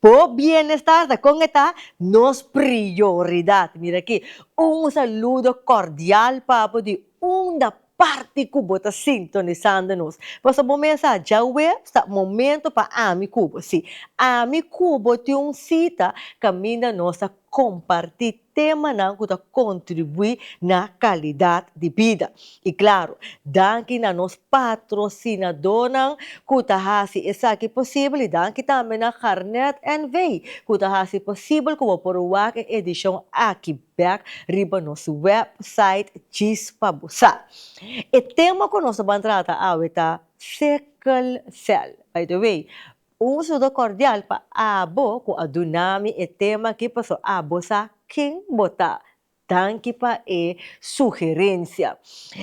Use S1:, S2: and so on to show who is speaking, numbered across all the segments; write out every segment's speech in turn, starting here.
S1: Bo bienestar ta con e ta nos prioridad. Mira aki, un saludo cordial pa bo di unda parti cu bo ta sintonisando nos. Paso bo mesa, djaweps ta momento pa ami cu bo. Si, ami cu bo tin un cita caminda nos ta comparti temanan ku ta kontribuí na kalidat di bida. I klaru, danki na nos patrosinadónan ku ta hasi esaki posibel i danki tambe na Garnet NV. ku ta hasi posibel ku bo por wak e edishon aki bèk riba nos wèpsait djis pa bo sa. E tema ku nos ta ban trata awe ta Sickle Cell. By the way, Un sudo cordial pa abo cu a duna mi e tema aki paso abo sa ken bo ta. Danki pa e sugerencia.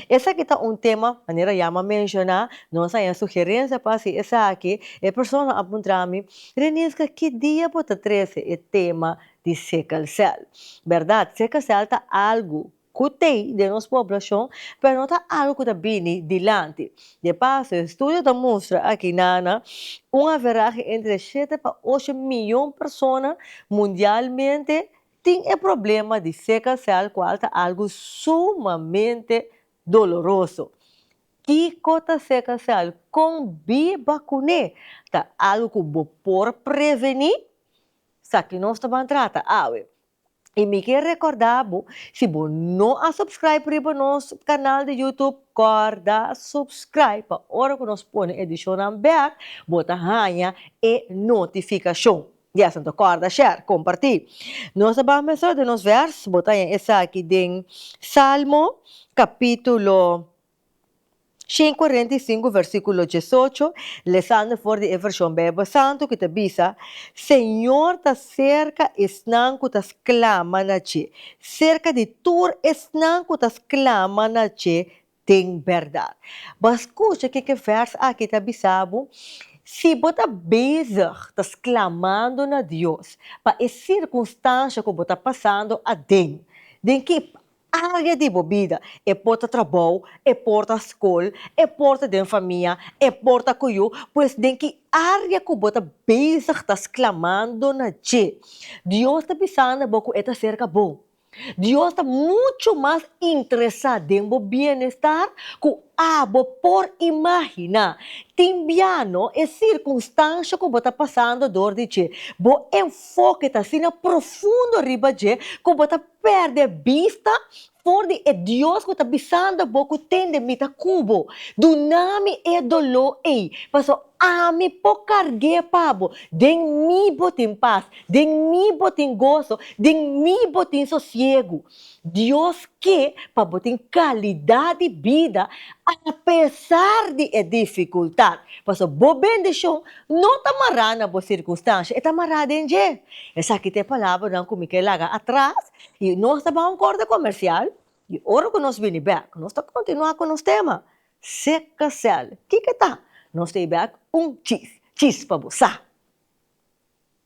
S1: Esaki ta un tema, manera Yama a menciona, nos a haña sugerencia pa haci esaki, e persona a puntra mi, Renisca ki dia bo ta trece e tema di sickle cell? Berdad, sickle cell ta algo ku t'ei den nos poblashon, pero no ta algu ku ta bini dilanti. De paso, e studio ta mustra aki na na un averahe entre shete pa ocho miyon persona mundialmente tin e problema di sickle cell kual ta algu sumamente doloroso. Kiko ta sickle cell? Kon bi bakuné? Ta algu ku bo por prevení? Sa ki nos ta ban trata awe. Y mi kier recorda bo, si bo no a subscribe riba nos canal di YouTube, corda subscribe pa ora cu nos pone edicionnan bek, bo ta haya e notificacion. Di asunto corda share, comparti. Nos a ban mester di nos vers, bo ta haya esaki den Salmo capitulo Shin cuarenta i sinku versiculo diesocho, Lesando for di e version Bijbel Santu cu ta bisa, Señor ta cerca esnan cu ta sclama na dje, cerca di tur esnan cu ta sclama na dje den berdad. Bo a scucha ke ke vers aki ta bisa bo? Si bo ta bezig ta sclamando na Dios pa e circunstancia cu bo ta pasando aden, den ki Aria di bo bida, e por ta trabou, e por ta skol, e por ta den famia, e por ta ku yu, pues den ki aria ku bo ta bezig ta sklamando na dje, Dios ta bisanda bo ku e ta serka bo. Dios ta muchu mas interesá den bo bienestar ku abo por imaginá. Tin biano e sirkunstansha ku bo ta pasando dor di dje, bo enfoke ta asina profundo riba dje ku bo ta. perde bista for di e Dios ku ta bisando bo ku tende mi ta ku bo. Duna mi e doló ei, paso ami por karg'é pa bo. Den mi bo tin pas, den mi bo tin goso, den mi bo tin sosiegu. Dios ke pa bo tin kalidat di bida apesar di e difikultat, paso bo bendishon No ta mará na bo sirkunstansha, e ta mará den dje. Esaki ta e palabranan ku mi ke laga atras, i nos ta bai un kòrte komersial, i ora ku nos bini bèk, nos ta kontinuá ku nos tema, Seka sèl, kiko e ta? Nos ta bai bèk un chis, chis pa bo sa.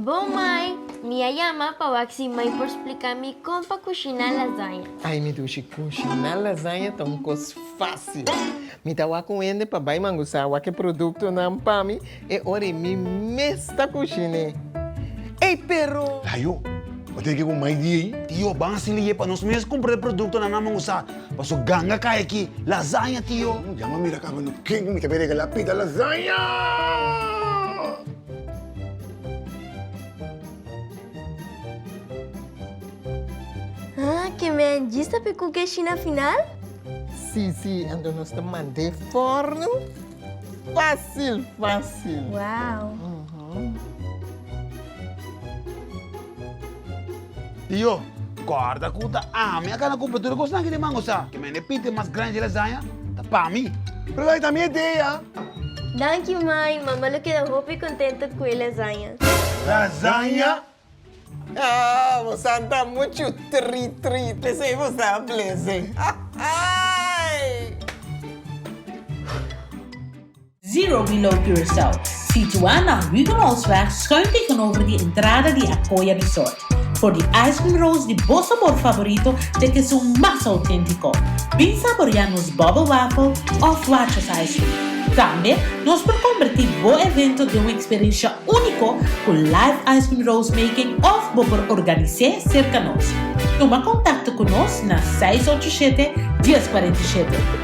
S1: Bo mai, mi a yama pa wak si mai por splika mi kon pa kushiná lasaña. Ai mi dushi, kushiná lasaña ta un kos fásil. Mi ta wak un hende pa bai mangusá wak e produktonan pa mi e ora ei mi mes ta kushiné. Ey, pero. Layo, bo tene ke ku mai di ei? Tio, ban hasi liyé pa nos mes kumpra e produktonan na mangusá. Paso ganga kai aki, lasaña, tio. Yama mira akaba no ke ku mi ta bin regalá pida lasaña! Haa ke men djista pe kuke shi na final? Sí, sí, anto nos ta mand'é for nu fásil, fásil. Wow! Tio, kòrda ku ta ami a kana kumpra tur e kosnan ki tin mango sa. Ki mende piti mas grandi di lasaña ta pa mi. Pero dai ta mi ideia. Danki mai, mama lo keda hopi kontento ku e lasaña. Lasaña? Haa, bo sa ta muchu trit trit. P'esei bo sa blese. Haa haa ei! Zero Below Curaçao, situá na Huguenotsweg schuin tegenover di entrada di Acoya Resort. For di ice cream rolls di bo sabor favorito te ke su mas autentico. Bin saborea nos bubble waffle of Watches ice cream. Tambe nos por converti bo evento den un experiencia unico cu live ice cream rolls making of bo por organise cerca nos. Tuma contacto cu nos na seis ocho siete, dies cuarenta y siete.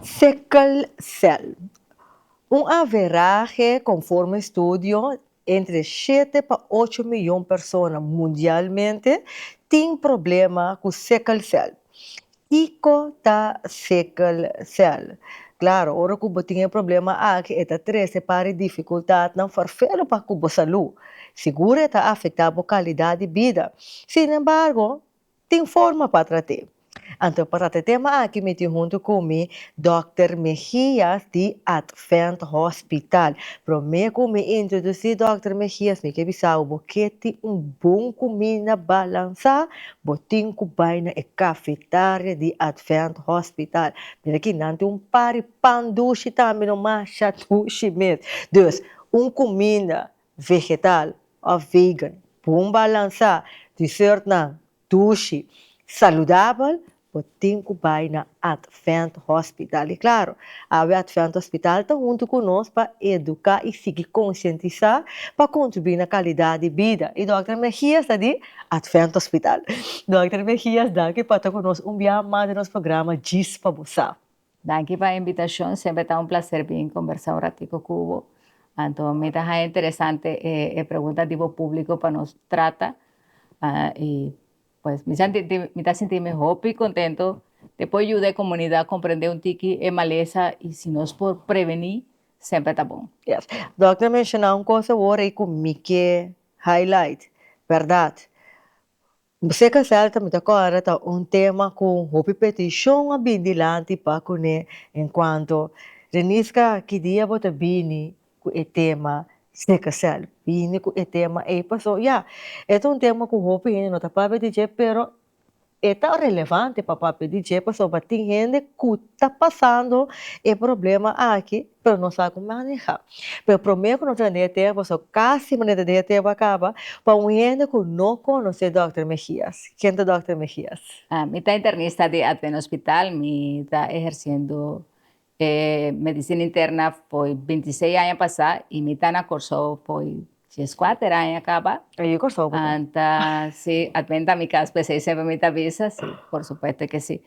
S1: Sickle cell, un averahe conforme studio entre shete pa ocho miyon persona mundialmente tin problema cu sickle cell. Kico ta sickle cell? Claro, ora cu bo tin e problema aki e ta trece pare dificultadnan farfelu pa cu bo salud. Sigur e ta afecta bo calidad di bida. Sin embargo, Tin forma pa trat'é. Anto pa trat'é tema aki mi tin huntu ku mi Dòkter Mejias di Advent Hospital. Promé ku mi introdusí Dòkter Mejias mi ke bisa'bo bo ke tin un bon kuminda balansá bo tin ku bai na e kafetaria di Advent Hospital. Mira aki nan tin un pari pan dushi tambe no masha dushi mes. Dus un kuminda vegetal of vegan. Bon balansa dessertnan dushi saludabel bo tin cu bay na Advent Hospital. Y claro, awe Advent Hospital ta hunto cu nos pa educa y sigui concientisa pa contribui na calidad di bida. Y Dokter Mejias ta di Advent Hospital. Dokter Mejias, danki pa ta cu nos un bia mas den nos programa Djis pa bo sa. Danki pa e invitashon, semper ta un plaser bin kombersá un ratiku ku bo. Anto mi ta haña interesante e pregunta di bo públiko pa nos trata i pues mi santi di mi ta sinti'mi hopi kontentu te por yuda e komunidat komprendé un tiki e malesa i si nos por prevení semper ta bon. Yes. Dòkter a menshoná un kos awor ei ku mi ke highlight, bèrdat, Busé Casal ta mita kòrda ta un tema ku hopi petishon a bin dilanti pa kuné en kuanto Reniska ki dia bo ta bini ku e tema Sé Casal bini ku e tema ei paso ya e ta un tema ku hopi hende no ta papia di dje pero e ta relevante pa papia di dje pasobra tin hende ku ta pasando e problema aki pero nos a ku maneha. Pero promé ku nos ta dea tempu so kasi manera ta dea tempu a kaba pa un hende ku no konosé Dòkter Mejias. Ken ta Dòkter Mejias? Mi ta internista di Advent Hospital. Mi ta ehersiendo e medisina interna fo'i binti i seis aña pasá i mi ta na Kòrsou fo'i dies kuater aña kaba. Ahi e Kòrsou bo ta? Ta, si. Advent ta mi kas, p'esei semper mi ta bisa si, por supuesto ke si.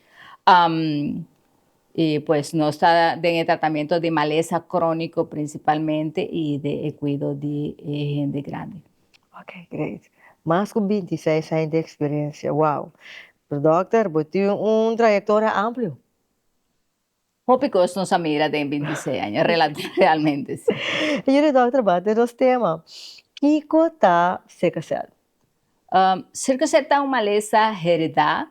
S1: Y pues nos ta den e tratamiento di malesa cronico principalmente y di e cuido di e hende grandi. Ok, great. Mas cu bintiseis aña di experiencia. Wow! Pero dokter, bo tin un trayectoria amplio. Hopi cos nos a mira den bintiseis aña, realmente si. Yuri dokter, bati nos tema. Kico ta sickle cell? Serka se ta un malesa heredá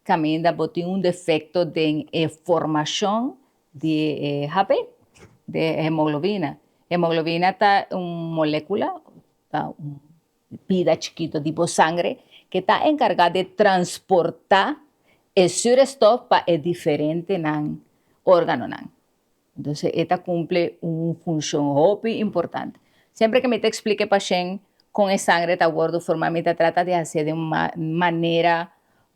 S1: kaminda bo tin un defekto den e formashon di e HP, di e hemoglobina. Hemoglobina ta un molékula, ta un pida chikito di bo sangre ke ta enkargá di transportá e surestof pa e diferentenan órganonan. Entonces e ta cumple un funcion hopi importante. Siempre que mi ta explica e pashent con e sangre ta wordo forma mi ta trata di hacer den un manera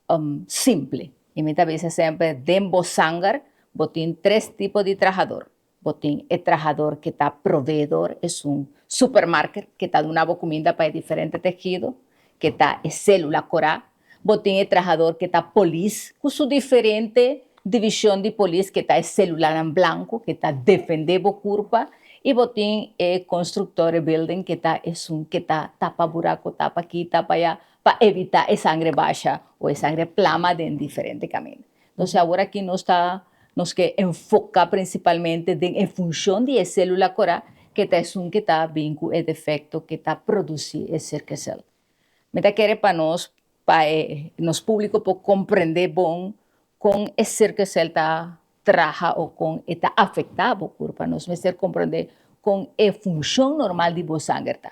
S1: um simple y mi ta bisa siempre den bo sanger bo tin tres tipo di trahador, bo tin e trahador que ta proveedor esun supermarket que ta duna bo cuminda pa e diferente tegido que ta e celula cora Bo tin e trahador ke ta polis ku su diferente divishon di polis ke ta e selulanan blanku ke ta defendé bo kurpa i bo tin e konstruktore bilding ke ta esun ke ta tapa buraku tapa aki tapa ayá pa evitá e sangre basha o e sangre plama den diferente kaminda. Entonse awor aki nos ta nos ke enfoká prinsipalmente den e funshon di e selula korá ke ta esun ke ta bin ku e defekto ke ta produsí e sirkesel. Mi ta kere pa nos pa e nos públiko por komprendé bon kon e sirkesel ta traha o kon e ta afektá bo kurpa. Nos mester komprendé kon e funshon normal di bo sanger ta.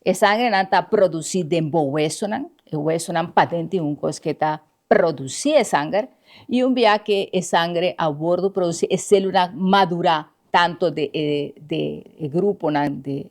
S1: E sangernan ta produsí den bo wesonan, e wesonan paden tin un kos ke ta produsí e sanger i un biaha ke e sangre a wòrdu produsí e sélulanan madurá tanto de e gruponan di.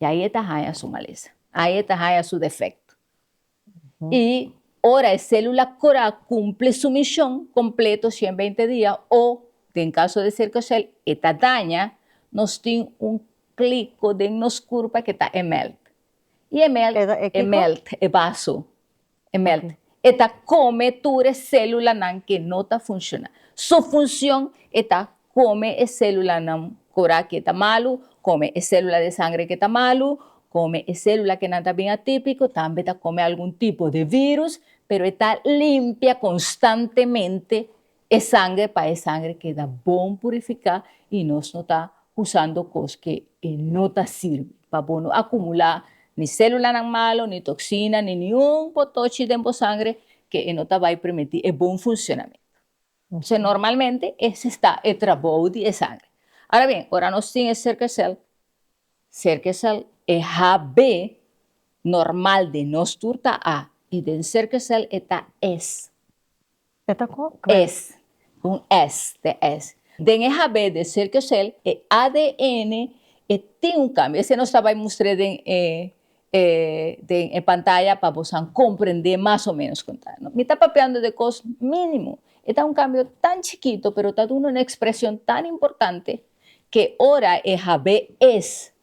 S1: Y ahi e ta haña su malesa. Ahi e ta haña su defecto. Y ora e celula core a cumple su mision completo, cien beinte dia, o den caso de sickle cell e ta daña, nos tin un clico den nos curpa ke ta e melt. Y e melt, e melt, e baso. E mèlt e ta kome tur e sélulanan ke no ta funshoná. Su funshon e ta kome e sélulanan ku ora ke ta malu, kome e sélula de sangre ke ta malu, kome e sélula ke nan ta bin atípiko, tambe ta kome algun tipo de vírus, pero e ta limpia konstantemente E sangre pa e sangre keda bon purifiká i nos no ta usando kos ke e no ta sirbi. Pa bo no akumulá ni sélulanan malu, ni toksina, ni niun potochi den bo sangre ke e no ta bai permití e bon funsionamentu. Entonces, normalmente ese ta e trabou di e sangre. Ara bien, ora nos tin e serkesèl, serkesèl e HB normal den nos tur ta A i den serkesèl e ta S. E ta con kwe? Es, un S den S. Den e habé de cerca cel, e ADN e tin un cambio. Esei nos ta bai mustr'é den e den e pantaya pa bosan comprendé mas o menos con ta. Mi ta papiando de cos minimo. E ta un cambio tan chikito pero ta duna un expresion tan importante ke ora e habé es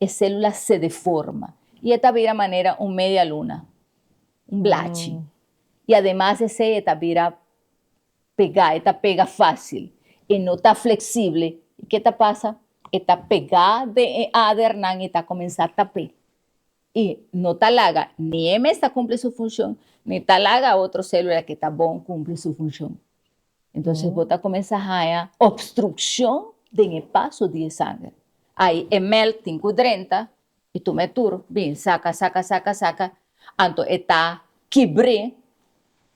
S1: E sélula se deforma i e ta bira manera un media luna, un blachi. I ademas esei e ta bira pegá, e ta pega fásil, e no ta fleksible. I ke ta pasa? E ta pegá den e adernan i ta komensá tap'é. I no ta laga ni e mes ta kumpli su funshon, ni ta laga otro sélula ke ta bon kumpli su funshon. Entonces bo ta comensa haya obstruccion den e paso di e sanger. Ay e melk tin cu drenta y tuma e tur bin saca, saca, saca, saca, anto e ta kibre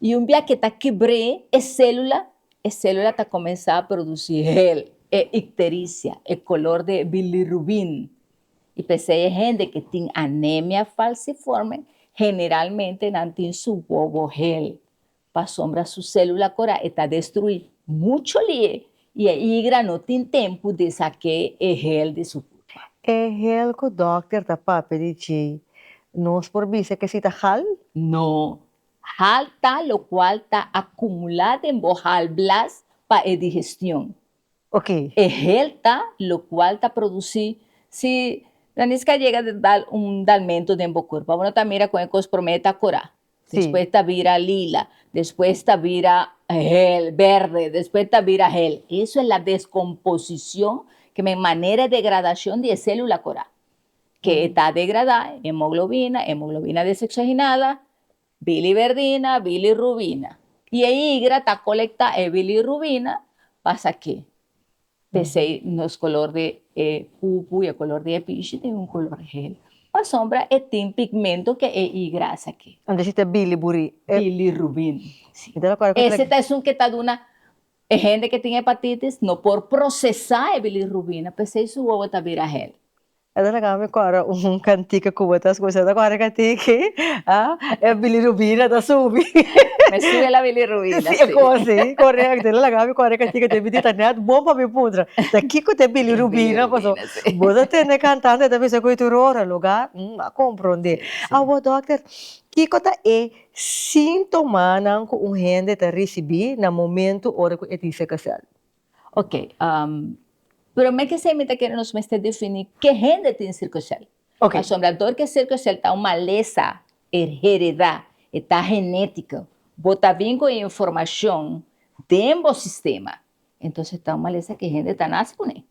S1: y un bia ke ta kibre e celula, e celula ta comensa produci hel, e ictericia, e color de bilirubin y pesey e hende ke tin anemia falciforme generalmente nan tin su wowo hel Pasobra su célula cora e ta destrui mucho lie y e igra no tin tempo di saque e hel di su pulpa. E hel cu dokter ta papia di djei, nos por bisa que si ta hal? No. Hal ta locual ta acumula den bo halblaas pa e digestión. oke. E helta lo cual ta produci si Ranis ka yega ta dal un dalmento den bo cuerpo. Abo no ta mira con e cos prome ta cora. Despues ta bira lila. Despues ta bira hel, berde. Despues ta bira hel. Eso es la descomposicion ke men manera e degradacion di e celula cora. Ke e ta degrada, hemoglobina, hemoglobina desoxigenada, Biliverdina, bilirrubina. I e higra ta kolektá e bilirrubina pa sak'é p'esei nos kolor di e pupu i e kolor di e pishi tin un kolor hel. Pasobra e tin pigmento ke e higra a sak'é. Anto si ta biliburí. Bilirrubin, si. Mi ta rekorda ku. Ese ta esun ke ta duna e hende ke tin hepatitis no por prosesá e bilirrubina p'esei su wowo ta bira hel. E ta laga mi kòrda un kantika ku bo ta skucha, ta kòrda ka tin ke e bilirubina ta subi. Mester e la bilirubina, si. E kon si, korekto. E ta laga mi kòrda kantika te bini, ta nèt bon pa mi puntra, ta kiko ta e bilirubina? Paso bo ta tende kantante, e ta bisa ku e ta un ora lugá. Hm, a komprondé. Awor dòkter, kiko ta e síntomanan ku un hende ta risibí na momentu ora ku e tin sèkasèl? Ok, prome kesei mi ta kere nos mester defini ke hende tin sirko sèl. Ok. Pasobra dor ke sirko sèl ta un malesa heredá, e ta genétiko, bo ta bin ku e informashon den bo sistema, entonse ta un malesa ke hende ta nase kuné.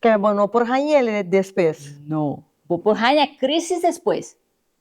S1: Pero bo no por hañ'é despes. No, bo por haña krisis despues,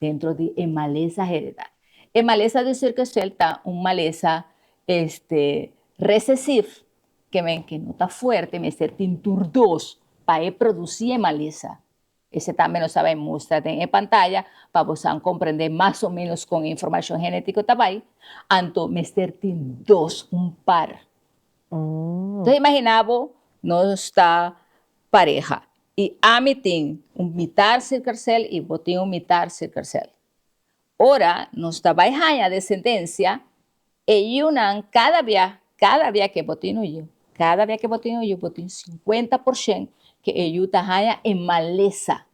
S1: dentro di e malesa heredá. E malesa di Surkesveld ta un malesa este resesif ke men ke no ta fuerte mester tin tur dos pa e produsí e malesa. Esei tambe nos a bai mustra den e pantaya pa bosan komprendé mas o ménos kon e informashon genetiko ta bai, anto mester tin dos, un par. Enton imaginá bo nos ta pareha I ami tin un mitar sirkarsel i bo tin un mitar sirkarsel. Ora nos ta bai haña desendensia, e yiunan kada bia, kada bia ke bo tin un yiu, kada bia ke bo tin un yiu, bo tin sinkuenta porshen ke e yiu ta haña e malesa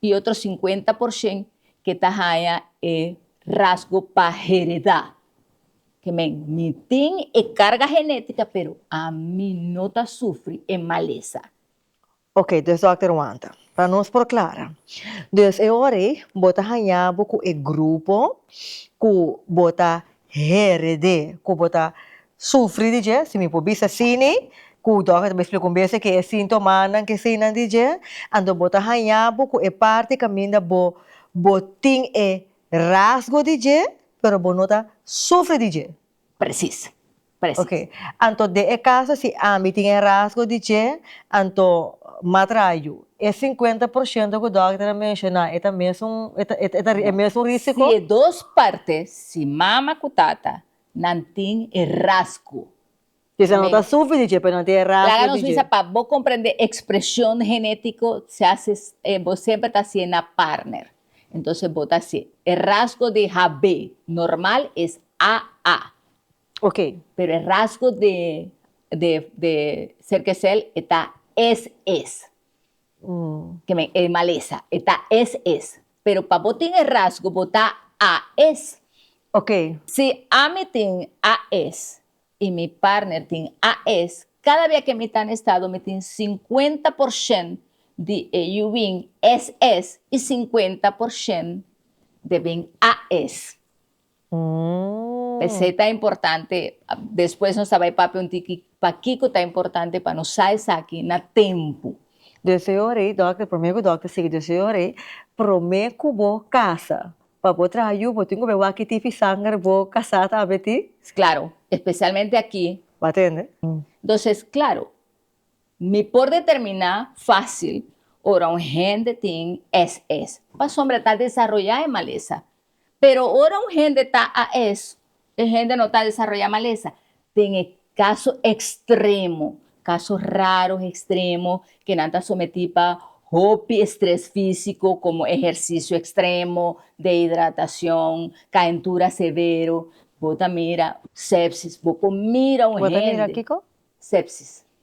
S1: i otro sinkuenta porshen ke ta haña e rasgo pa heredá. Ke men, mi tin e karga genétika, pero ami no ta sufri e malesa. Oke, dus dòkter wanta. Pa nos por klara. Dus e ora ei bo ta haña bo ku e grupo ku bo ta hèrèd'é, ku bo ta sufri di dje, si mi por bisa asini, ku dòkter ta bai splika un bes ke e síntomanan ke eseinan di dje, anto bo ta haña bo ku e parti kaminda bo bo tin e rasgo di dje, pero bo no ta sufri di dje. Presis, presis. Oke, anto den e kaso si ambi tin e rasgo di dje, anto m'a traha yu. E sinkuenta por shento ku dòkter a menshoná, e ta mes un, e ta, e ta, e mes un rísiko? Si e dos partes, si mama ku tata, nan tin e rasgo Kisa no ta sufri di dje, pero no ta e rasgo di dje. Laga nos bisa pa bo comprende expresion genetico se hace bo semper ta hacié na partner. Entonces bo ta hacié, e rasgo di HB normal es AA. Ok. Pero e rasgo di di Cerkesel e ta SS. Kimen e malesa e ta SS. Pero pa bo tin e rasgo bo ta AS. Ok. Si ami tin AS I mi partner tin AS. Kada bia ke mi ta na estado mi tin sinkuenta porshen di e yu bin SS i sinkuenta porshen de bin AS. P'esei ta importante, despues nos ta bai papia un tiki pakiko ta importante pa no sa esaki na tempu. Deseo rei, dòkter, promé ku dòkter sigui deseo rei, promé ku bo kasa. Pa bo traha yu bo tin ku be waki tipi sanger bo kasá ta abe ti. Claro, especialmente aki. Bo tende? Entonces claro, mi por determiná fácil ora un hende tin SS, pasobra ta desaroyá e malesa. Pero ora un hende ta AS, E hende no ta desaroyá malesa den e kaso ekstremo, kaso raro ekstremo ke nan ta sometí pa hopi estres físiko komo ehersisio ekstremo, dehidratashon, kaentura severo. Bo ta mira sepsis, bo por mira un hende. Bo ta mira kiko? Sepsis.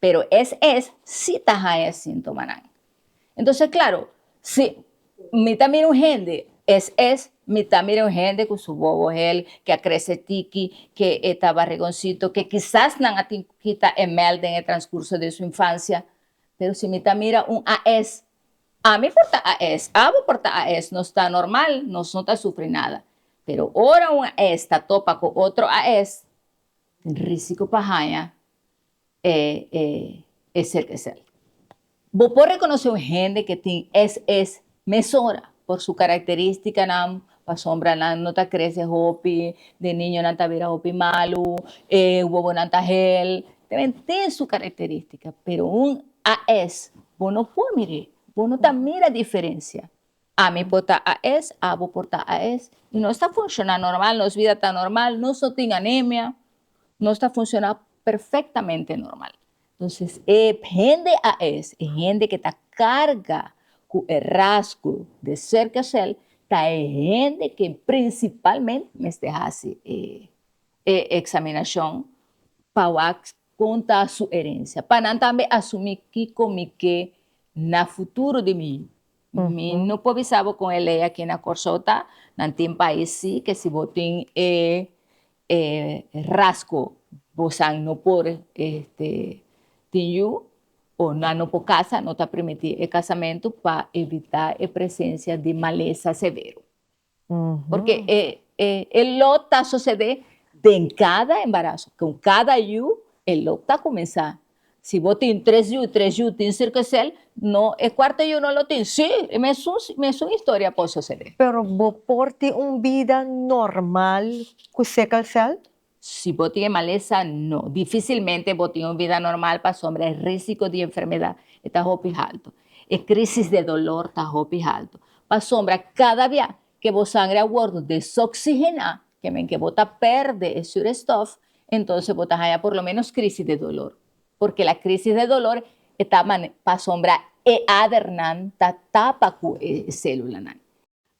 S1: pero es es si ta haya e sintomanan. Entonces claro, si mi ta mira un hende, es es mi ta mira un hende cu su bobo hel, que a crece tiki, que e ta barrigoncito, que kisas nan a tin cu kita e mel den e transcurso den su infancia, pero si mi ta mira un AS, ami por ta AS, abo por ta AS, nos ta normal, nos no ta sufri nada, pero ora un AS ta topa cu otro AS, tin risico pa haya e e e ser es el. Bo por rekonosé un hende ke tin es es mesora por su karakterístikanan, pasobra nan no ta krese hopi, den niño nan ta bira hopi malu, e wowonan ta hel, ta bira tin su karakterístika, pero un AS bo no por mir'é, bo no ta mira diferensia, ami por ta AS, abo por ta AS, i nos ta funshoná normal, nos bida ta normal, nos no tin anemia, nos ta funciona perfectamente normal. Entonces e hende aes, e hende ke ta carga cu e rasgo de cerca cell ta e hende ke principalmente mester haci e examinacion pa wak con ta su herencia, pa nan tambe asumi kico mi ke na futuro di mi. Mi no por bisa bo con e ley aki na Corsou ta, nan tin pais si ke si bo tin e e rasco bosan no por este tin yu o nan no por casa no ta primiti e casamento pa evita e presencia di malesa severo porque e lo ta sucede den cada embarazo con cada yu e lo ta comensa. Si bo tin tres yu, tres yu tin sirkesel, no, e kuarto yu no lo tin. Sí, e mesun, mesun historia por sosede. Pero bo por tin un bida normal ku sikkelsel? Si bo tin e malesa, no. Difisilmente bo tin un bida normal pasobra e risiko di enfermedat e ta hopi haltu. E krisis de dolor ta hopi haltu. Pasobra kada bia ke bo sangre a wòrdu desoksigená, Te men ke bo ta pèrdè e surestòf, entonse bo ta haña por lo ménos krísis de dolor. Por kila krísis de dolor e ta mane pasobra e adernan ta tapa ku e sélulanan.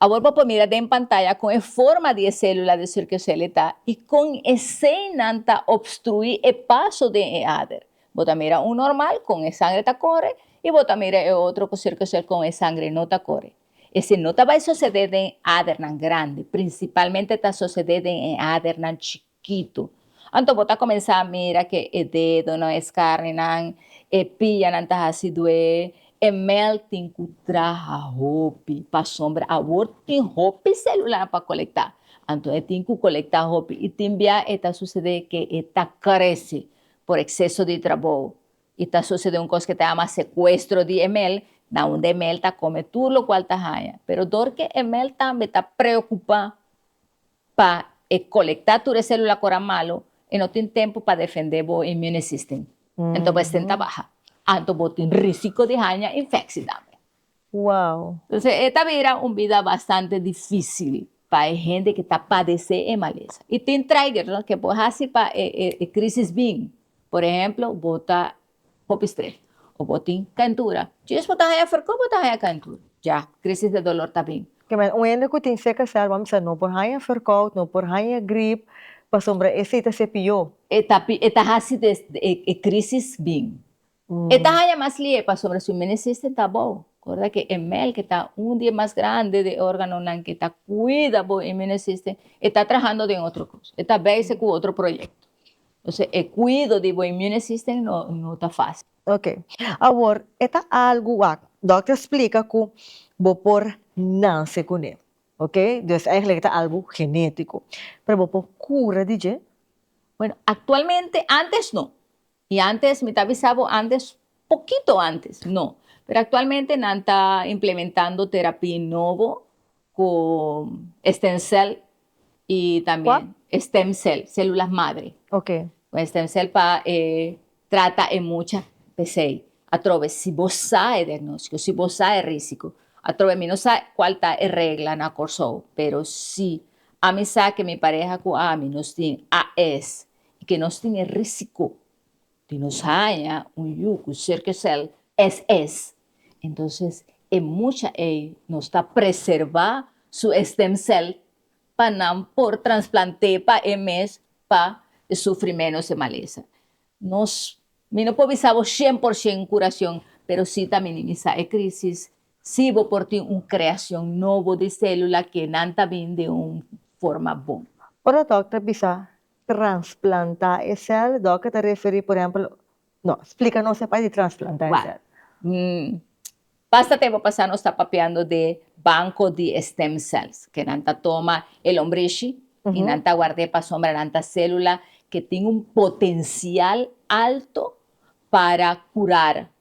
S1: Awor bo por mira den pantaya kon e forma di e sélula de Serkoselle ta i kon eseinan ta obstruí e paso den e ader. Bo ta mira un normal kon e sangre ta kore i bo ta mira e otro ku Serkoselle kon e sangre no ta kore. Esei no ta bai sosede den e adernan grandi, prinsipalmente ta sosede den e adernan chikitu. Anto bo ta komensá mira ke e dedonan, e skarnenan, e pianan ta hasi dué, e mel tin ku traha hopi, pasobra awor tin hopi selular pa kolektá. Anto e tin ku kolektá hopi i tin bia e ta sosede ke e ta krese por ekseso di trabou. I ta sucede un cos cu ta yama secuestro di e mel, na unda e mel ta come tur locual ta haya. Pero doorke e mel tambe ta preocupa pa e colecta tur e celula cu ora malo, e no tin tempo pa defende bo immune system. Enton bo a stenta baha, anto bo tin risico di haya infecci tambe. Wow! Entonces e ta bira un bida bastante dificil pa e hende ke ta padece e malesa. Y tin trigger no ke por haci pa e crisis bin. Por ejemplo bo ta hopi stress o bo tin caentura. Djis bo ta haña ferko bo ta haña caentura. Ya crisis de dolor ta bin. Kemen un hende ku tin CKCL bo a bisa no por haña ferkout, no por haña grip pasobra esei ta sepió. E ta haci e crisis bin. E ta haña mas lihe pasobra su menesisten ta abou. Corda ke e melk ta un di e mas grandi di e organonan ke ta cuida bo e menesisten, e ta trahando den otro cos, e ta bezig cu otro proyecto. Entonces e cuido di bo inmunesisten no ta facil. Ok, awor e ta algo wak dokter splica cu bo por nance cu ne, ok, dus eigenlijk e ta algo genetico, pero bo por cura di dje? Bueno, actualmente, antes no, Y antes, mi ta bisa bo antes, pokito antes, no. Pero actualmente nan ta implementando terapia nobo cu stem cell y también. Cu? Stem cell, celula madre. Ok. Cu stem cell pa e trata e mucha pesey atrobe si bo sa e diagnóstico, si bo sa e risico. Atrobe mi no sa cual ta e regla na Corsou, pero si ami sa ke mi pareha cu ami nos tin AS i ke nos tin e risiko di nos haña un yu ku serka sèl SS, entonces e mucha ei nos ta preservá su e stemsèl pa nan por transplant'é pa e mes pa e sufri ménos e malesa. Nos, mi no por bisa bo shen por shen kurashon, pero si ta minimisá e krísis Si bo por tin un creacion nobo di celula ke nan ta bin den un forma bon. Ora dòkter a bisa transplantá e cel, dòkter ta referí por ehempel, no, splica nos e pai di transplantá e cel. Basta tempo pasá nos ta papiando de banco di e stem cells, ke nan ta toma e lombrishi i nan ta guard'é pasobra nan ta celula ke tin un potencial alto para curar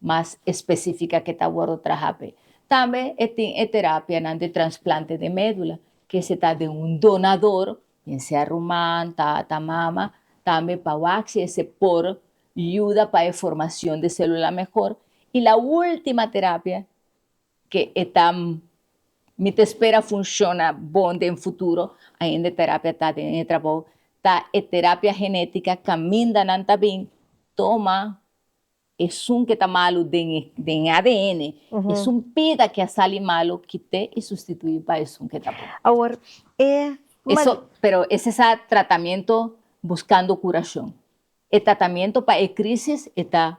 S1: mas específica ke ta wordo traha p'e. Tambe e tin e terapianan de transplante de médula, ke se ta den un donador, bien sea ruman, tata, mama, tambe pa wak si ese por yuda pa e formacion de célula mehor, y la última terapia ke e ta mi ta espera funciona bon den futuro, ainda e terapia ta den e trabou, ta e terapia genética caminda nan ta bin toma. Esun ke ta malu den e den e adn, esun pida ke a sali malu kit'é i sustituí pa esun ke ta bon. Awor, e ma. Eso, pero ese sa tratamiento buskando kurashon. E tratamiento pa e krisis e ta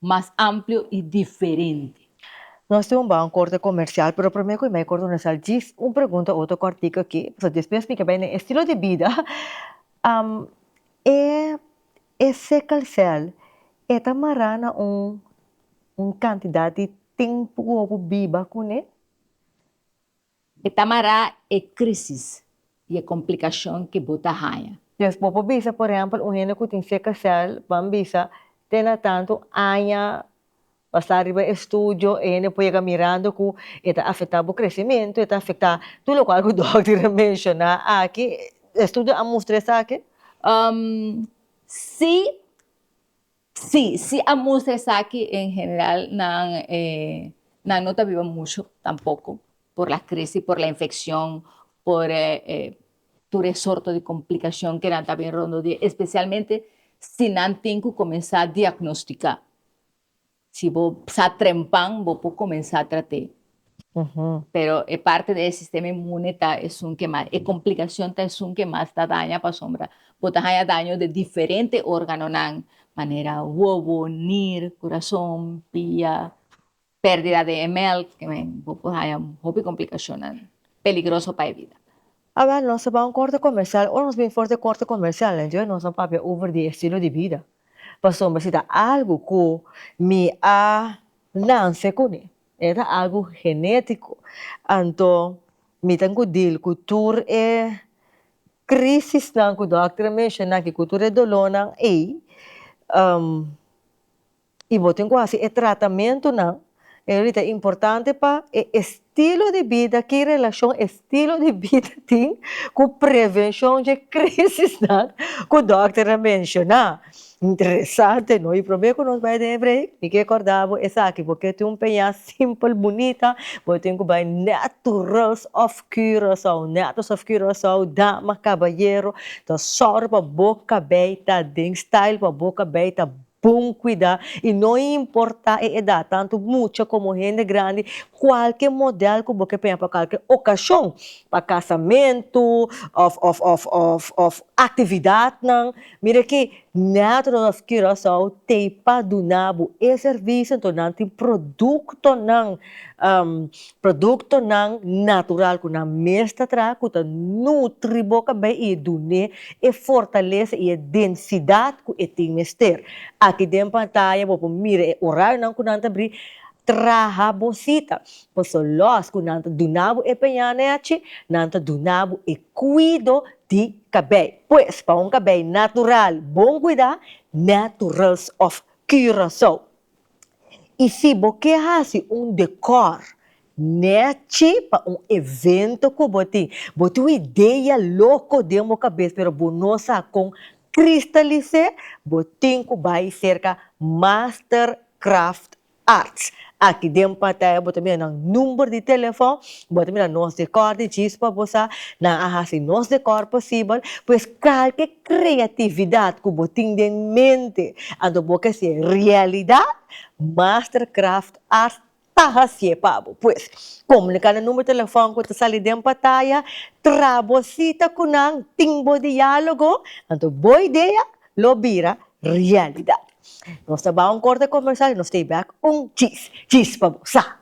S1: mas amplio i diferente. Nos tin un bou korte komersial, pero promé ku i mei korte nos al djis un pregunta oto kòrtiku aki, pasobra despues mi ke bai na e estilo di bida, am, e E sekelcel e ta mará na un un kantidat di tempu ku bo biba kuné. E ta mará e krísis i e komplikashon ku bo ta haña. Des bo por bisa, por ehèmpel, un hende ku tin sekelcel, ban bisa, te na tantu aña Basa riba e studio ene por yega mirando cu e ta afecta bo crecemento, e ta afecta tur locual cu dokter a menciona aki. E studio a mustra esaki? Si, si, si a mustra esaki. En general nan nan no ta biba mucho tampoco por la crisi, por la infeccion, por tur e sorto di complicacion que nan ta bin rondodie, especialmente si nan tin cu comensa diagnostica. Si bo sa trempan bo por comensa trate pero e parte di e sistema inmune ta esun ke mas e complicacion ta esun ke mas ta daña pasobra bo ta haña daño di diferente organonan manera wowo, nir, curason, pia, perdida di e melk, bo por haña hopi complicacionnan peligroso pa e vida. Awor nos ta ban un corte comercial o nos bin for t'e corte comercial enjoy nos a papia over di estilo di bida pasobra si ta algo cu mi a nance cune e ta algo genetico anto mi ten cu deal cu tur e crisisnan cu doctor a menciona aki cu tur e dolornan ey. I bo tin ku hasi e tratamentunan, e religion ta importante pa e estilo di bida. Ki relashon estilo di bida tin ku prevenshon dje krisisnan ku dòkter a menshoná? Interesante, no? I promé ku nos bai den e breik, mi ke kòrda bo esaki, bo ke tin un peña simpel, bunita, bo tin ku bai Naturals of Curaçao, Naturals of Curaçao, dama, kabayero, ta sòru pa bo kabei ta den style, pa bo kabei ta Pon kuidá i no importá e edat, tantu mucha komo hende grandi, kualke modèl ku bo ke peña pa kualke okashon, pa kasamentu òf òf òf òf òf aktividatnan, mira ke Natural of Curaçao t'ei pa duna bo e servisio, anto nan tin produktonan Produktonan natural ku nan mes ta traha ku ta nutri bo kabei i e dun'é e fortalesa i e densidat ku e tin mester. Aki den pantaya bo por mira e orarionan ku nan ta bri traha bo sita. Paso lòs ku nan ta duna bo e peña nèchi, nan ta duna bo e kuido di kabei. Pues pa un kabei natural bon kuidá, Naturals of Curaçao I si bo ke hasi un dekor nechi pa un evento ku bo tin, bo tin un idea loko den bo kabes pero bo no sa kon kristalis'é, bo tin ku bai serka Master Craft Arts. Aki den Pattaya bo ta mira nan number di telefòn, bo ta mira nos dekòr di djis pa bo sa, nan a hasi nos dekòr posibel, pues kalke. Kreatividat ku bo tin den mente anto bo ke hasié realidat, Mastercraft Art ta hasié pa bo. Pues, komuniká na numero telefòn ku ta sali den pataya, traha bo sita ku nan, tin bo diálogo, anto bo idea lo bira realidat. Nos ta bai un korte komersal i nos ta bai un chis chis pa bo sa.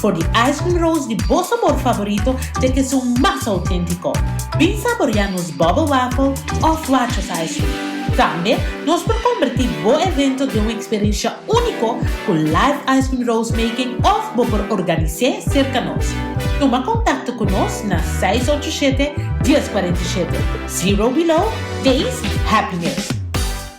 S1: Por di ice cream rolls di bo sabor favorito te ke su mas autentico. Bin saboria nos bubble waffle of Rochas ice cream. Tambe nos por converti bo evento den un experiencia unico cu live ice cream rolls making of bo por organise cerca nos. Tuma contacto cu nos na seis ocho shete, dies cuarenta y shete. Zero below, taste happiness.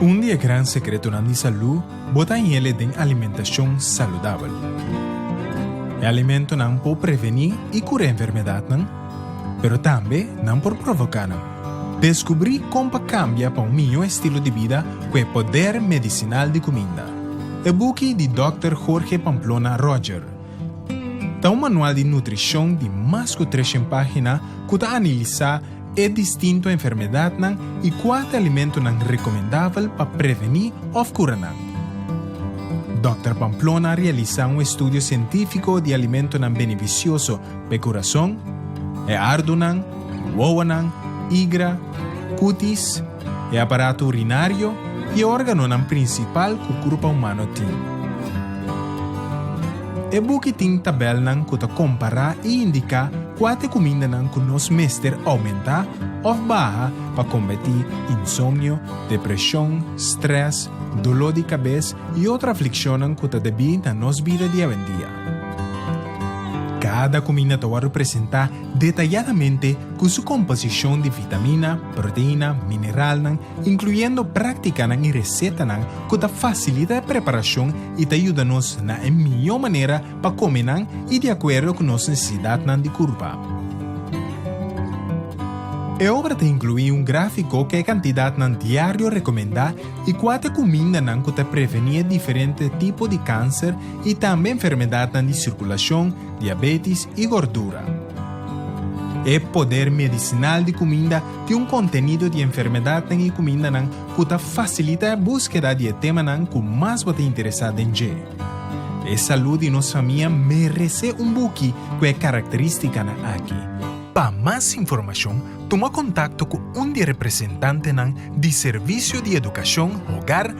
S1: Un di e gran sekretonan di salú bo ta hiele den alimentashon saludabel. E alimentonan por prevení i kurá enfermedatnan, pero tambe nan por provoká nan. Deskubrí kon pa kambia pa un mihó estilo di bida ku e poder medisinal di kuminda. E buki di dòkter Jorge Pamplona Roger. Ta un manual di nutrishon di mas ku treshen página ku ta anilisá e distinto enfermedatnan i kua ta alimentunan rekomendabel pa prevení òf kura nan. Dòkter Pamplona a realisá un estudio sientífiko di alimentunan benefisioso pa e kurason, e ardunan, wowonan, igra, kutis, e aparato urinario i e órganonan prinsipal ku kurpa humano tin. E buki tin tabèlnan ku ta kompará i indiká kua t'e kumindanan ku nos mester oumentá òf baha pa kombati insomnio, depreshon, strès, doló di kabes i otro aflikshonnan ku ta debí na nos bida diawendia. Kada kuminda ta wòrdu presentá detayadamente cu su composicion di vitamina, proteina, mineralnan, incluyendo practicanan y recetanan cu ta facilita e preparacion y ta yuda nos na e miyo manera pa come nan y di acuerdo cu nos necesidadnan di curpa. E obra ta inclui un grafico cu e cantidadnan diario recomenda y cuate cumindanan cu ta preveni e diferente tipo di cancer y tambe enfermedadnan di circulacion, diabetis i gordura. E poder medisinal di kuminda tin un kontenido di enfermedat den e kumindanan ku ta fasilita e buskeda di e temanan ku mas bo ta interesá den dje. E salú di nos famia meresé un buki ku e karakterístikanan aki. Pa mas informashon tuma kontakto ku un di e representantenan di Servisio di Edukashon Hogar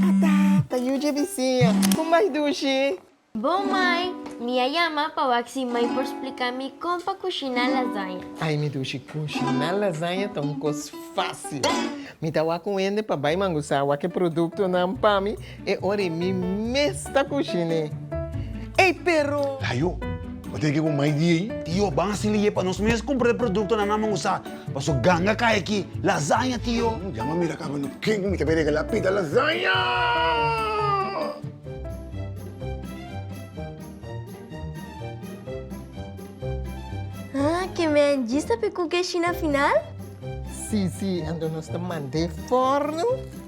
S1: Tata, ta yu dje bisiña. Con bai dushi? Bo mai, mi a yama pa wak si mai por splica mi con pa cushina lasaña. Ai mi dushi, cushina lasaña ta un cos facil. Mi ta wak un hende pa bai mangusá wak e productonan pa mi. E ora e mi mes ta kushina e. Ey pero. Layo, bo tin ke ku mai di ey? Tio, ban a sili ye pa nos mes kumpra e produktonan nan bo usa. Paso ganga kai aki. Lasaña, tio. Djama a mira kaba no ken ku mi ta bin regalá pita lasaña. Ah, ke men djis ta p'e kuke shi na final? Sí, sí, anto nos ta manda e forno.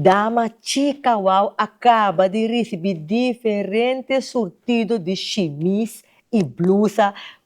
S1: Dama chica wou a caba di ricibi diferente surtido di shimis y blusa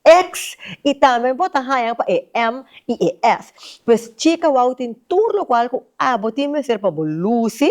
S1: X, i tambe bo ta haña pa e M i e F. Pues chika wou tin tur lokual ku abo tin mester pa bo lusi.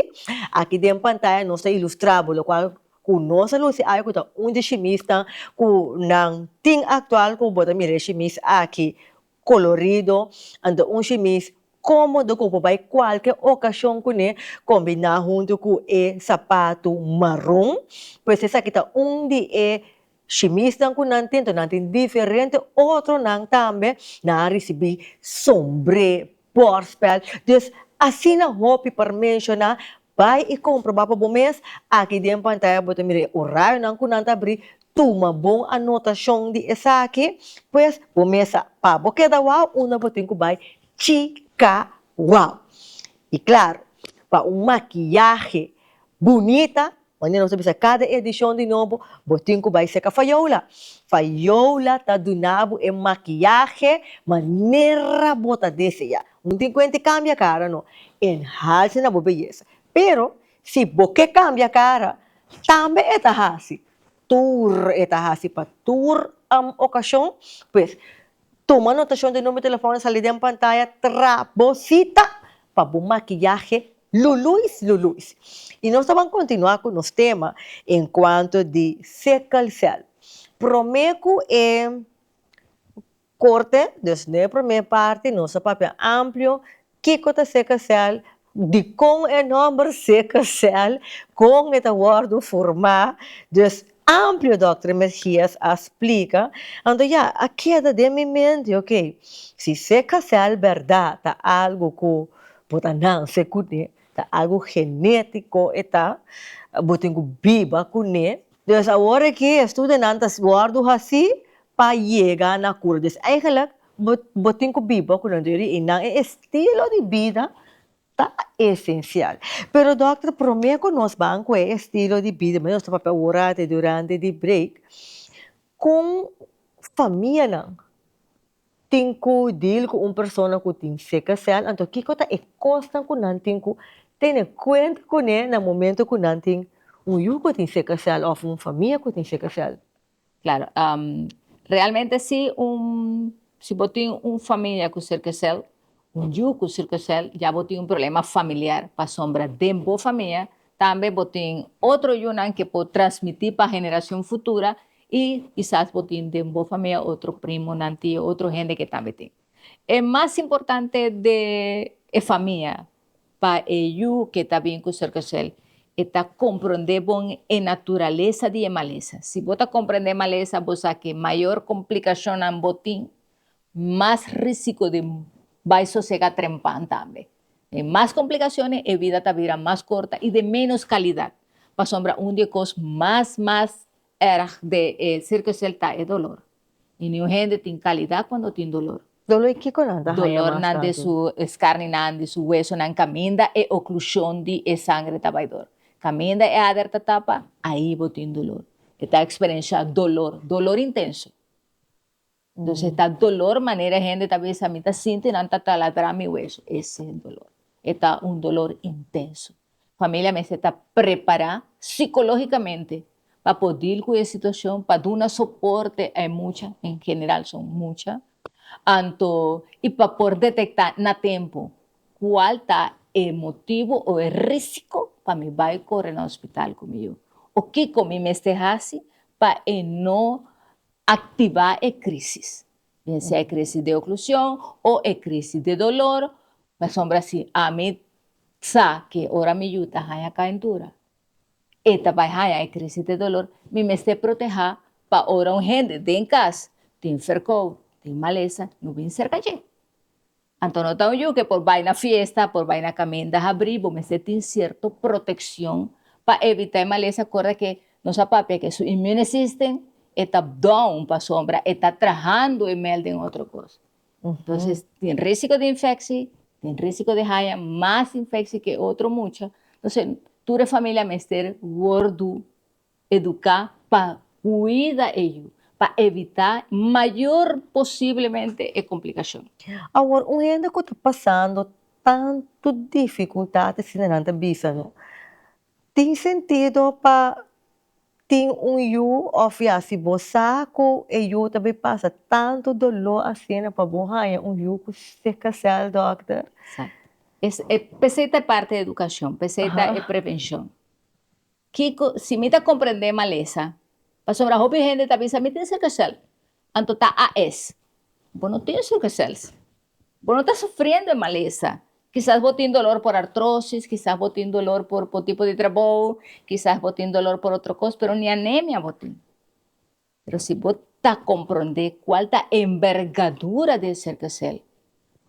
S1: Aki den pantaya nos ta ilustrá bo lokual ku nos ta lusi aki ku ta un di shimisnan ku nan tin aktual ku bo ta mira e shimis aki kolorido. An ta un shimis kómodo ku bo bai kualke okashon kuné kombiná huntu ku e sapatu maron. Pues esaki ta un di e. Shimisnan ku nan tento nan tin diferente otronan tambe, nan a risibí sombré, bòrspèl, dus asina hopi pa menshoná, bai i komprobá pa bo mes, aki den pantaya bo ta mira e orayonan ku nan ta abrí, tuma bon anotashon di esaki, pues bo mes sa pa bo keda wou unda bo tin ku bai chika wou. I klaru, pa un makiyahe bunita Manera nos ta bisa kada edishon di Nobo, bo tin ku bai seka fayola. Fayola ta duna bo e makiyahe manera bo ta deseá. Un tin kuenta di kambia kara? No, e hasi na bo beyesa. Pero, si bo ke kambia kara, tambe e ta hasi. Tur e ta hasi pa tur okashon. Pues, Tuma notashon di numero telefòn e sali den pantaya tra bo sita pa bo makiyahe luluis luluis. I nos ta ban kontinuá ku nos tema enkuanto di sickle cell. Promé ku e korte, nos no e promé parti, nos a papia amplio. Kiko ta seka sèl? Dikon e nòmber seka sèl? Kon e ta wòrdu furmá? Dus amplio dòkter Mejias a splika, anto ya a keda den mi mente, okey, si seka sèl bèrdat ta algu ku bo ta nanse kuné, ta algu genétiko e ta, bo tin ku biba kuné. Dus awor aki e studionan ta wòrdu hasí pa yega na kura. Dus eigenlijk Bo bo tin ku biba ku nan diri i nan e estilo di bida ta esensial. Pero dòkter promé ku nos ban ku e estilo di bida nos ta papia ora te durante di break kon famianan tin ku dil ku un persona ku tin sickle cell anto kiko ta e kosnan ku nan tin ku tene kuenta kuné na momentu ku nan tin un yu ku tin sickle cell òf un famia ku tin sickle cell. Claro, realmente si un, si bo tin un familia cu circocel, un yu cu circocel, ya bo tin un problema familiar, pasobra den bo famia tambe bo tin otro yunan que por transmiti pa generacion futura y kisas bo tin den bo famia otro primonan, tio, otro hende que tambe tin. E mas importante de e famia pa e yu ke ta bin ku Circle Cell e ta komprondé bon e naturalesa di e malesa. Si bo ta komprondé malesa bo sa ke mayor komplikashonnan bo tin mas risiko di bai sosega trempan tambe. E mas komplikashonnan e bida ta bira mas korta i de menos kalidat. Pasobra un di e kos mas mas Erg de e circus shell ta e dolor. Y niun hende tin calidad cuando tin dolor. Dolor y kico nan ta haya mas tanto? Dolor nan de su escarni nan, di su hueso nan caminda e oclusion di e sangre ta bay door. Caminda e ader ta tapa, ahi bo tin dolor. E ta experiencia dolor, dolor intenso. Entonces e ta dolor manera e hende ta bisa mi ta sinti nan ta taladra mi hueso, ese e dolor, e ta un dolor intenso. Familia mester ta prepara sicologicamente pa por deal cu e situacion, pa duna soporte a e mucha, en general son mucha, anto y pa por detecta na tempo cual ta e motivo o e risico pa mi bay core na hospital cu mi yu o kico mi mester haci pa e no Aktivá e krísis, bien sea e krísis di oklushon o e krísis di dolor, pasobra si ami sa ke ora mi yu ta haña kaintura e ta bai haña e krísis di dolor, mi mester protehá pa ora un hende den kas tin ferkou, tin malesa no bin serka dje. Anto no ta un yu ke por bai na fiesta, por bai na kaminda habrí, bo mester tin sierto protekshon pa evitá e malesa kora ke nos a papia ke su immune system e ta down pasobra e ta trahando e mèl den otro kos. Entonces tin risiko di infeksi, tin risiko di haña mas infeksi ke otro mucha, entonces tur e familia mester wòrdu. Educa pa cuida e yu pa evita mayor posiblemente e complicacion. Awor un hende cu ta pasando tanto dificultad asina nan ta bisa no tin sentido pa tin un yu of ya si bo sa cu e yu ta bay pasa tanto dolor asina pa bo haya un yu cu cerca cel dokter. Exacto, p'esey ta e parte di educacion, p'esey ta e prevencion. Kico si mi ta comprende malesa? Pasobra hopi hende ta bisa, Mi tin sicklecel, anto ta AS. Bo no tin sicklecel. Bo no ta sufriendo e malesa. Kisas bo tin dolor por artrosis, kisas bo tin dolor por por tipo di trabou, kisas bo tin dolor por otro cos, pero ni anemia bo tin. Pero si bo ta komprondé kual ta e enbergadura di e serkasel,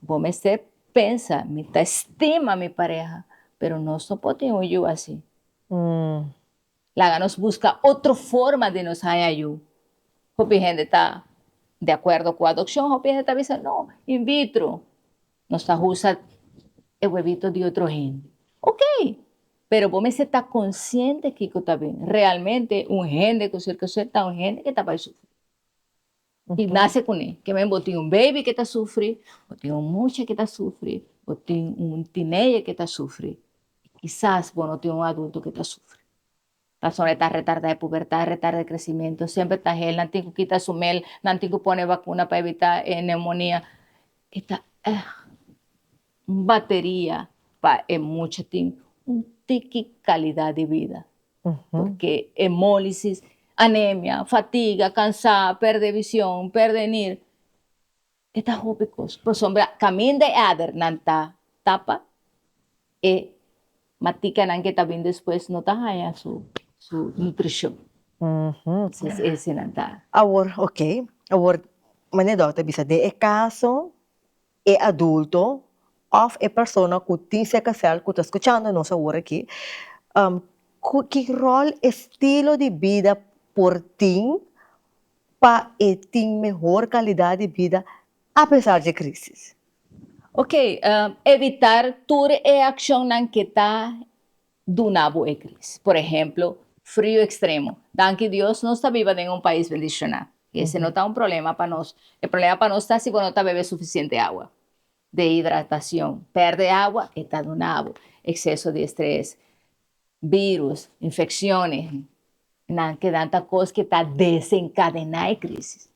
S1: bo mester pensa, Mi ta estima mi pareha, pero nos no por tin un yu así. Laga nos buska otro forma di nos haña yu. Hopi hende ta di akuerdo ku adokshon, hopi hende ta bisa, No, in vitro. Nos ta usa e webito di otro hende. Ok! Pero bo mester ta konsiente kiko ta bini. Realmente un hende ku serka su ta un hende ke ta bai sufri. I nase kuné. Kiemen bo tin un beibi ke ta sufri, bo tin un mucha ke ta sufri, bo tin un tineje ke ta sufri, kisas bo no tin un adulto ke ta sufri. Pasobra e ta retardá e pubertat, retardá e kresimentu, semper ta hel, nan tin ku kita su mel, nan tin ku pone vakuna pa evitá e neumonia. E ta èg un bateria pa e mucha tin un tiki kalidat di bida, pasobra emólisis, anemia, fatiga, kansá, pèrdè vision, pèrdè nir, E ta hopi cos, pasobra caminda e ader nan ta tapa, e maticanan que ta bin despues no ta haya su su nutricion. Entonces ese nan ta. Awor, ok, awor mane Doc ta bisa, den e caso e adulto of e persona cu tin sicklecel cu ta scuchando nos awor aki, cu ki rol estilo di bida por tin pa e tin mehor kalidat di bida apesar dje krisis. Oke, evitar tur e akshonnan ke ta duna bo e krisis. Por ehemplo, frio ekstremo. Danki Dios nos ta biba den un pais bendishoná i ese no ta un problema pa nos. E problema pa nos ta si bo no ta bebe sufisiente awa. Dehidratacion, perde agua e ta duna bo exceso di estres, virus, infecciones nan ke nan ta cos ke ta desencadena e crisis.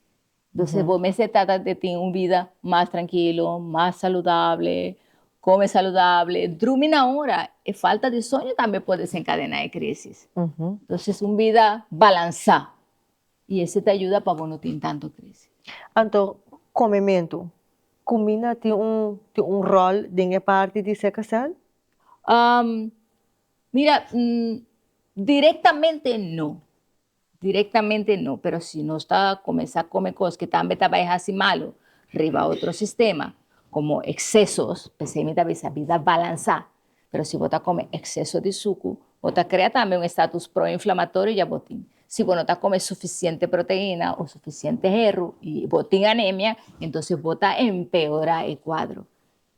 S1: Entonces bo mester trata di tin un vida mas tranquilo, mas saludable, come saludable, drumi na ora, e falta di soño tambe por desencadena e crisis. Entonces un vida balansa. I esei ta yuda pa bo no tin tantu krisi. Anto, komementu. Kumina tin un tin un ròl den e parti di ser kasal? Um, mira, n, direktamente no. Direktamente no, pero si nos ta komensá kome kos ke tambe ta bai hasi malu riba otro sistema, komo eksesos, p'esei mi ta bisa bida balansá. Pero si bo ta come exceso di sucu, bo ta crea tambe un estatus pro-inflamatorio ya bo tin. Si bo no ta come suficiente proteina o suficiente herro y bo tin anemia, entonces bo ta empeora e cuadro.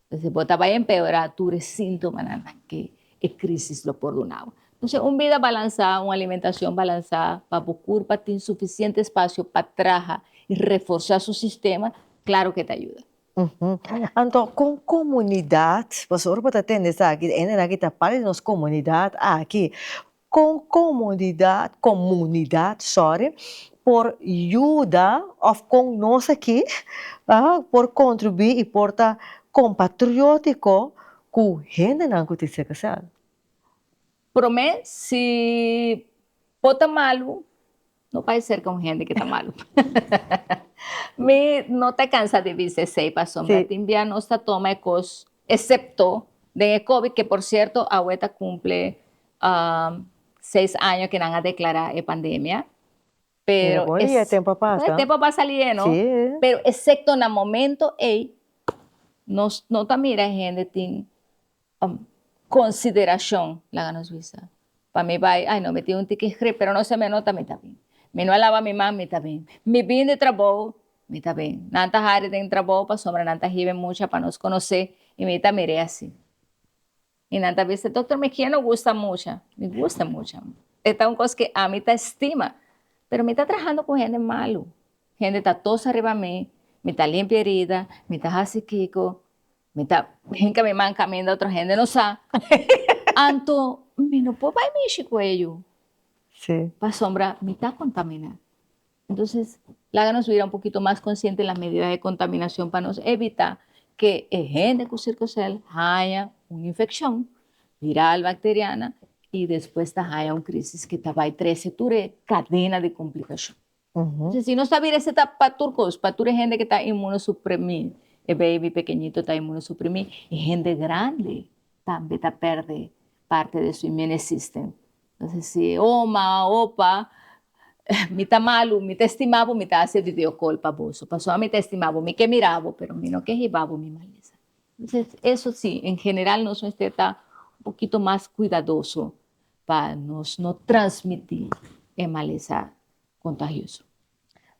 S1: Entonces bo ta bay empeora tur e sintomanan aki e crisis lo por duna bo. Entonces un bida balansa, un alimentacion balansa pa bo curpa tin suficiente espacio pa traha y reforsa su sistema, claro que ta yuda. Anto kon komunidat, pasobra ora bo ta tende esaki e hendenan aki ta parti di nos komunidat aki, kon komunidat komunidat sòri por yuda òf kon nos aki por kontribuí i por ta kompatriótiko ku hendenan ku ta e sèkersèl? Prome si bo ta malu no bai serka un hende ki ta malu mi no ta kansa di bisa esei pasobra tin bia nos ta toma e kos esepto den e covid ke por sierto awe ta kumple seis año ke nan a deklará e pandemia pero bon e tempo a pasa e tempo a pasa aliye no pero esepto na momento ei nos no ta mira e hende tin consideracion laga nos bisa pa mi bai ai no mi tin un tin ki grip pero no se mi a nota mi ta bien mi no a laba mi man mi ta bien mi bin di trabou mi ta bien nan ta hari den trabou pasobra nan ta hibe mucha pa nos conoce y mi ta mire asi y nan ta bisa doctor mi kier no gusta mucha mi gusta mucha e ta un cos ki a mi ta estima pero mi ta trahando cu hende malo hende ta tos ariba mi mi ta limpi herida mi ta hasi kico Mi ta hinka mi man kaminda otro hende no sa, anto mi no por bai mishi ku e yu, pasobra mi ta kontaminá. Entonces, laga nos bira un pokito mas konsiente na medida di kontaminashon pa nos evitá ke e hende ku sirkosèl haña un infekshon viral, bakteriana i despues ta haña un krísis ke ta bai trese tur e kadena di komplikashon. Entonces si nos ta bira ese ta pa tur cos, pa tur e hende que ta inmunosuprimi, e baby pekeñito ta inmunosuprimi, e hende grandi tambe ta perde parte de su immune system, entonces si e oma, opa, mi ta malu, mi ta estima bo, mi ta haci e video call pa boso, pasobra mi ta estima bo, mi ke mira bo, pero mi no ke hiba bo mi malesa, entonces eso si en general nos mester ta un pokito mas cuidadoso pa nos no transmiti e malesa kontahioso.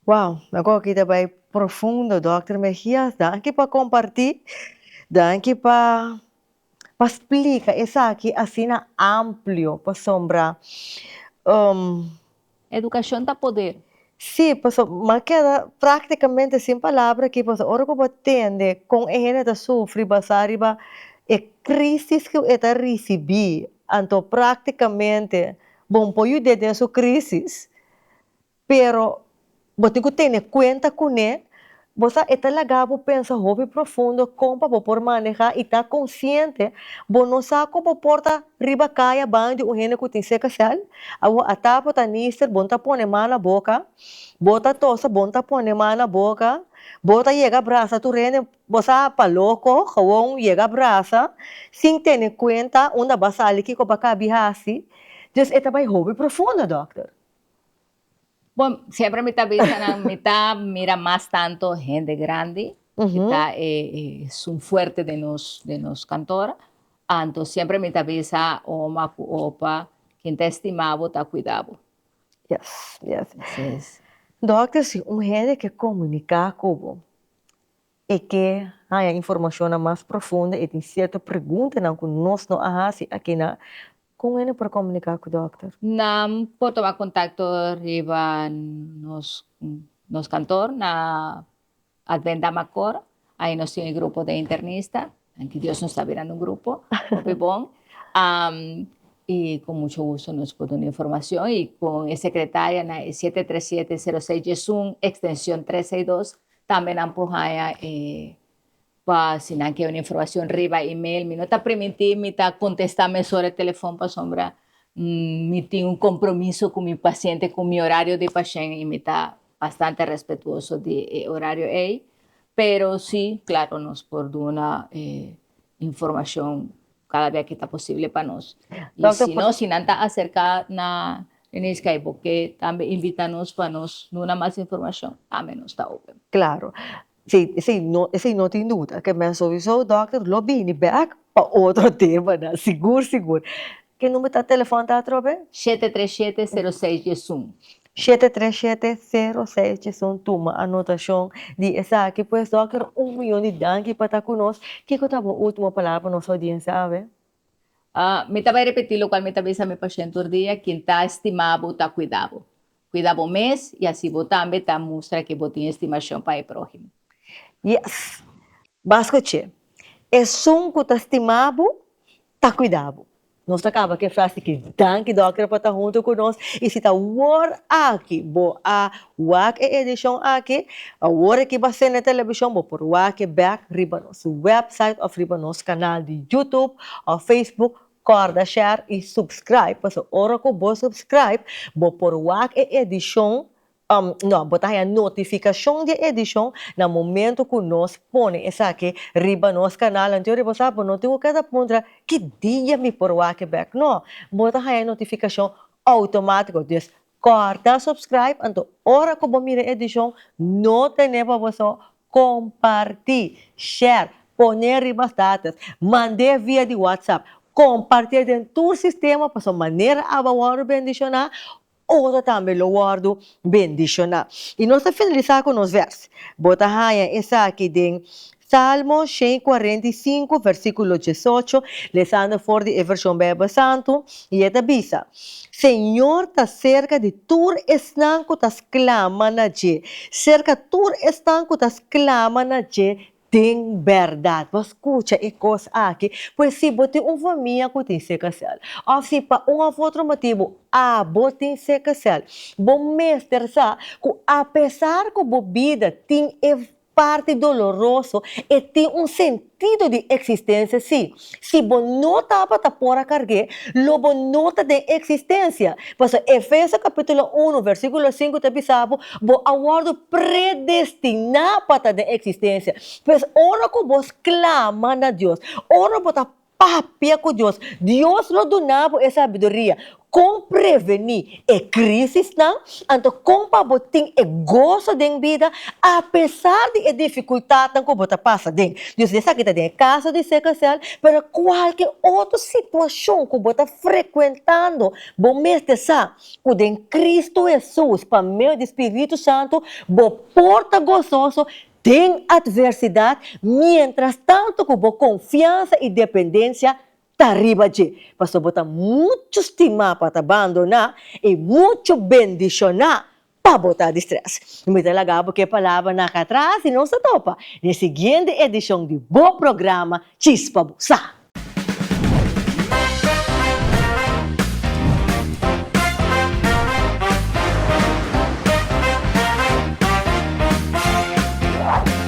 S1: Wow, mi a koki ta bai profundo Dòkter Mejias, danki pa kompartí, danki pa pa splika esaki asina amplio pasobra um. Edukashon ta poder. Sí, paso m'a keda práktikamente sin palabra aki paso ora ku bo a tende kon e hende ta sufri basá riba e krísis ku e ta risibí, anto práktikamente Bon por yud'é den su crisis, pero bo tin cu tene cuenta cun'é. Bo sa, e ta laga bo pensa hopi profundo con pa bo por maneha y ta consciente. Bo no sa cu bo por ta riba cay a baño di un hende cu tin sekacel. Awor a tapa o ta nister, bo no ta pone man na boca. Bo ta tosa, bo no ta pone man na boca. Bo ta yega brasa tur hende. Bo sa pa loko, gewoon yega brasa sin tene kuenta unda bo a sali kiko bo a kabi hasi, dus e ta bai hopi profundo dokter. Bo siempre mi ta bisa nan mi ta mira mas tanto hende grandi ki ta e sun fuerte den nos den nos kantor, anto siempre mi ta bisa oma ku opa ken ta estima bo ta kuida bo. Yes yes. Dokter si un hende ke komunika ku bo e ke haña informashonnan mas profundo, e tin sierto preguntanan ku nos no a hasi akinan, kon hende por komuniká ku dòkter? Nan por tuma kontakto riba nos kantor na Advent Damacor, ahi nos tin e grupo den internista, tanti Dios nos ta bira na un grupo, hopi bon, i ku mucho gusto nos por duna informashon, i kon e sekretarianan e siete tres siete sero seis diesun ekstenshon tres seis dos Tambe nan por haña e pa si nan ke un informacion riba email. Mi no ta primintí mi ta contesta mesora telefon pasobra mi tin un compromiso cu mi paciente cu mi horario di pashén y mi ta bastante respetuoso di e horario ey. Pero si, claro, nos por duna e informacion Kada bia ke ta posible pa nos. I si no, si nan ta aserka na Denise Kay bo ke tambe invita nos pa nos duna mas informashon, tambe nos ta open. Klaro. Si, si, no, si no tin duda ke mester souiso dòkter lo bini bèk pa otro tema nan, sigur, sigur. Ke number ta telefòn ta atrobe? Shete tres shete sero seis diesun. Shete tres shete sero seis Chison tuma anotashon di esaki pues Dòkter un miyon di danki pa ta ku nos kiko ta bo ultimo palabra pa nos oudiensia awe? Ah mi ta bai repetí lokual mi ta bisa mi pashent tur dia kin ta estima bo ta kuida bo kuida bo mes i asi bo tambe ta mustra ku bo tin estimashon pa e próhimo. Yes! Bas kuch'é! Esun ku ta stima bo Ta cuida bo. Nos ta caba cu e frase ki, Danki Dòkter pa ta hunto cu nos. Y si ta wor aki bo a wak e edicion aki, awor aki base n'e television, bo por wake bek riba nos website of riba nos canal di YouTube of Facebook. Corda share y subscribe, paso ora cu bo subscribe, bo por wak e edicion No, bo ta haña notificacion di e edicion na momento cu nos pone esaki riba nos canal. Anto di bo sa, bo no tin cu keda puntra, Ki dia mi por wak e bek? No, bo ta haña e notificacion automatico. Dus, corta subscribe, anto ora cu bo mira e edicion, no tene pa bo so comparti, share, pone riba status, mande via di WhatsApp, compartie den tur sistema pasobra manera aba worde bendiciona ora tambe lo wòrdu bendishoná. I nos ta finalisá ku nos vèrs. Bo ta haña esaki den Salmo shen i kuarenta i sinku, vèrsikulo diesocho, lesando for di e Vershon Beibel Santu, i e ta bisa, Señor ta serka di tur esnan ku ta sklama na dje, serka tur esnan ku ta sklama na dje Den bèrdat bo a skucha e kos aki, pues si bo tin un famia ku tin sekasèl, òf si pa un òf otro motibu abo tin sekasèl, bo mester sa ku apesar ku bo bida tin e parti doloroso, e tin un sentido di eksistensia sí. Si bo no tabata por a kargu'é, lo bo no ta den eksistensia. Pasobra Efeso kapítulo unu, vèrsikulo sinku ta bisa bo, bo a wòrdu predestiná pa ta den eksistensia. Pues, ora ku bo sklama na Dios, ora bo ta papia ku Dios, Dios lo duna bo e sabiduria. Kon prevení e krísisnan? Anto kon pa bo tin e goso den bida apesar di e difikultatnan ku bo ta pasa den? Yo si esaki ta den e kaso di sickle cell, pero kualke otro situashon ku bo ta frekuentando, bo mester sa ku den Kristu Hesus, pa medio di spiritu santu, bo por ta gososo den atversidat mientras tanto ku bo konfiansa i dependensia Ta riba dje, pasobra bo ta mucho stima pa ta bandoná i mucho bendishoná pa bo ta distrés. Mi ta laga bo ku e palabranan aka atras i nos ta topa den e siguiente edishon di bo programa Chispa bo sa.